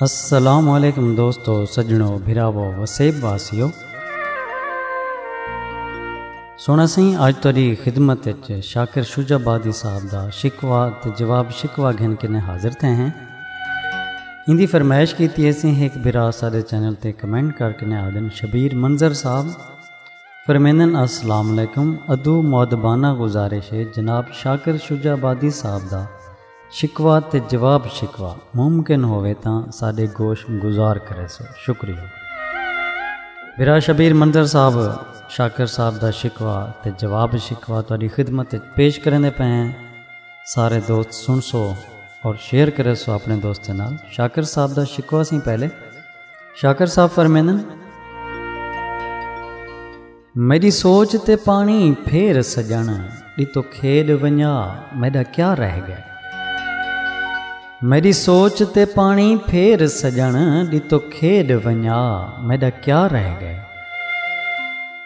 السلام علیکم دوستو سجنو بھراو وسیب واسیو سونا سی اج تیری خدمت وچ شاکر شجا بادی صاحب دا شکوا تے جواب شکوا گھن کے نے حاضر تھے ہیں ان دی فرمائش کیتی ہے سی ایک بھرا سارے چینل تے کمنٹ کر کے نے آدن شبیر منظر صاحب فرمیندن السلام علیکم ادو مؤدبانہ گزارش ہے جناب شاکر شجاع آبادی صاحب دا شکوہ تے جواب شکوہ ممکن ہووے تاں ساڈے گوش گزار کریسو شکریہ برا شبیر منظر صاحب شاکر صاحب دا شکوہ تے جواب شکوہ تہاڈی خدمت وچ پیش کریندے پئے ہیں سارے دوست سن سو اور شیئر کریسو اپنے دوستیں نال شاکر صاحب دا شکوہ سی پہلے شاکر صاحب فرمیندن میڈی سوچ تے پانی پھیر سجن ڈتو کھیڈ ونجا میڈا کیا رہ گئے میڈی سوچ تے پانی پھیر سجن ڈتو کھیڈ ونجا میڈا کیا رہ گئے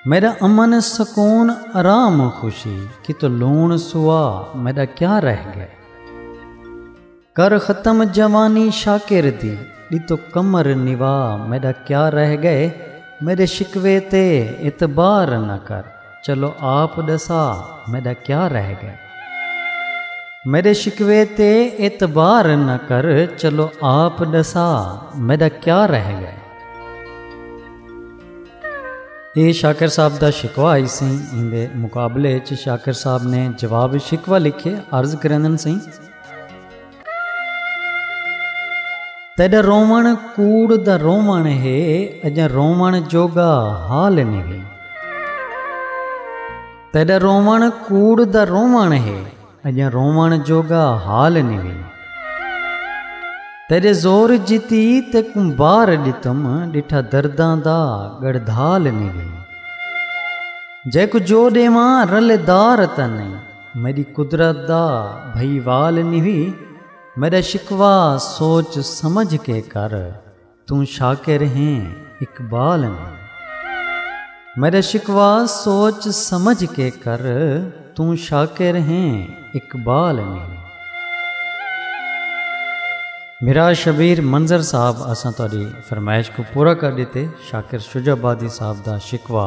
میرا امن سکون آرام خوشی کت لون سوا میڈا کیا رہ گئے کر ختم جوانی شاکر دی ݙتو قمر نوا میݙا کیا رہ ڳئے میݙے شکوے تے اعتبار نہ کر چلو آپ ݙسا میݙا کیا رہ ڳئے میݙے شکوے تے اعتبار نہ کر چلو آپ ݙسا میݙا کیا رہ ڳئے اے شاکر صاحب دا شکوا آئی سی ایندے مقابلے چ شاکر صاحب نے جواب شکوا لکھے عرض کرندن سی تیݙا رووݨ کوڑ دا رووݨ ہے اڄاں رووݨ جوڳا حال نویں تیݙا رووݨ کوڑ دا رووݨ ہے اڄاں رووݨ جوڳا حال نویں تیݙے زور جتی تیکوں بار ݙتم ݙٹھا درداں دا ڳڑدھال نویں جیکوں جو ݙیواں رلے دار تاں نہیں میݙی قدرت دا بھئی وال نیوی میݙا شکوہ سوچ سمجھ کے کر توں شاکر ہیں اقبال نیں میݙا شکوہ سوچ سمجھ کے کر توں شاکر ہیں اقبال نیں میرا شبیر منظر صاحب اساں تاری فرمائش کو پورا کر دیتے شاکر شجہ بادی صاحب دا شکوا